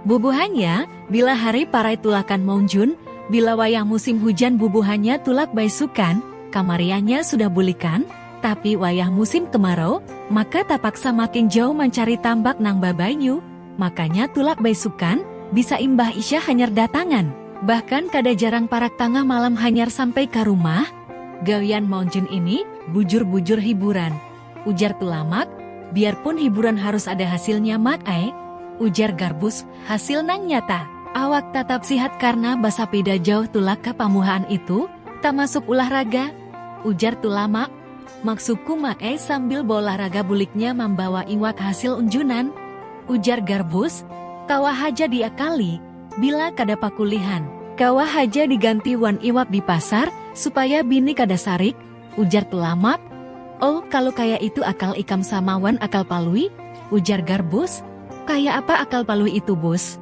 Bubuhannya, bila hari parai tulakan maunjun, bila wayah musim hujan bubuhannya tulak baisukan, kamariannya sudah bulikan, tapi wayah musim kemarau, maka tapaksa makin jauh mancari tambak nang babanyu, makanya tulak baisukan, bisa imbah isya hanyar datangan. Bahkan kada jarang parak tangah malam hanyar sampai ka rumah. Gawian maunjun ini bujur-bujur hiburan. ujar Tulamak, biar pun hiburan harus ada hasilnya Mak ai, ujar Garbus, hasil nang nyata, awak tatap sihat karna basapida jauh tulak ka pamuhaan itu, tamasuk ulah raga, ujar Tulamak, maksudku Mak ai sambil baulah raga buliknya mambawa iwak hasil unjunan, ujar Garbus, kawa haja diakali, bila kada pakulihan. Kawa haja diganti wan iwak di pasar, supaya bini kada sarik, ujar Tulamak. Oh, kalu kaya itu akal ikam sama wan akal Palui? ujar Garbus. Kaya apa akal Palui itu, Bus?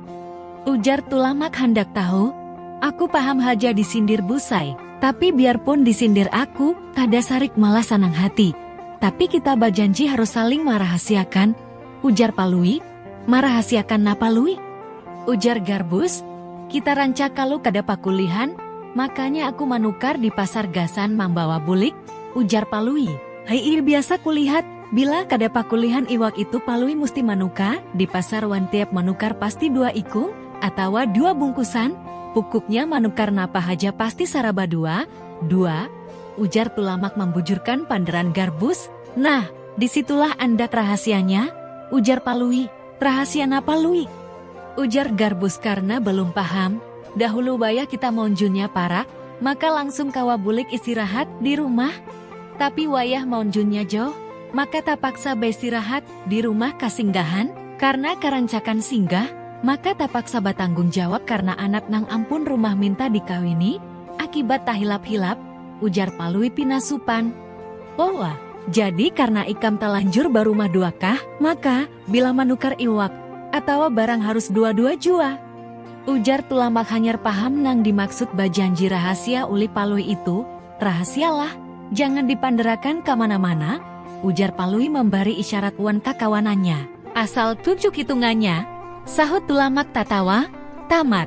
ujar Tulamak handak tahu. Aku paham haja disindir Busai, tapi biarpun disindir aku kada sarik malah sanang hati. Tapi kita bajanji harus saling marahasiakan. ujar Palui. Marahasiakan napa Lui? ujar Garbus, kita rancak kalu kada pakulihan, makanya aku manukar di pasar gasan mambawa bulik, ujar Palui. Hi'ir biasa kulihat, bila kada pakulihan iwak itu Palui musti manukar di pasar wan tiap manukar pasti dua ikung atawa dua bungkusan, pukuknya manukar napa haja pasti saraba dua, dua, ujar Tulamak mambujurkan pandaran Garbus. Nah, di situlah andak rahasianya, ujar Palui. Rahasia napa Lui? ujar Garbus karna balum paham, dahulu wayah kita maunjunnya parak, maka langsung kawa bulik istirahat di rumah, tapi wayah maunjunnya jauh, maka tapaksa baistirahat di rumah kasinggahan? Karna karancakan singgah, maka tapaksa batanggung jawab karna anak nang ampun rumah minta dikawini, akibat tahilap-hilap, ujar Palui pina supan. Owa, jadi karna ikam talanjur barumah dua kah, maka, bila manukar iwak, atawa barang harus dua-dua jua? Ujar Tulamak hanyar paham nang dimaksud bajanji rahasia ulih Palui itu, Rahasialah, jangan dipanderakan ka mana-mana, ujar Palui mambari isyarat wan kakawanannya. Asal tujuk hitungannya, sahut Tulamak tatawa, tamat.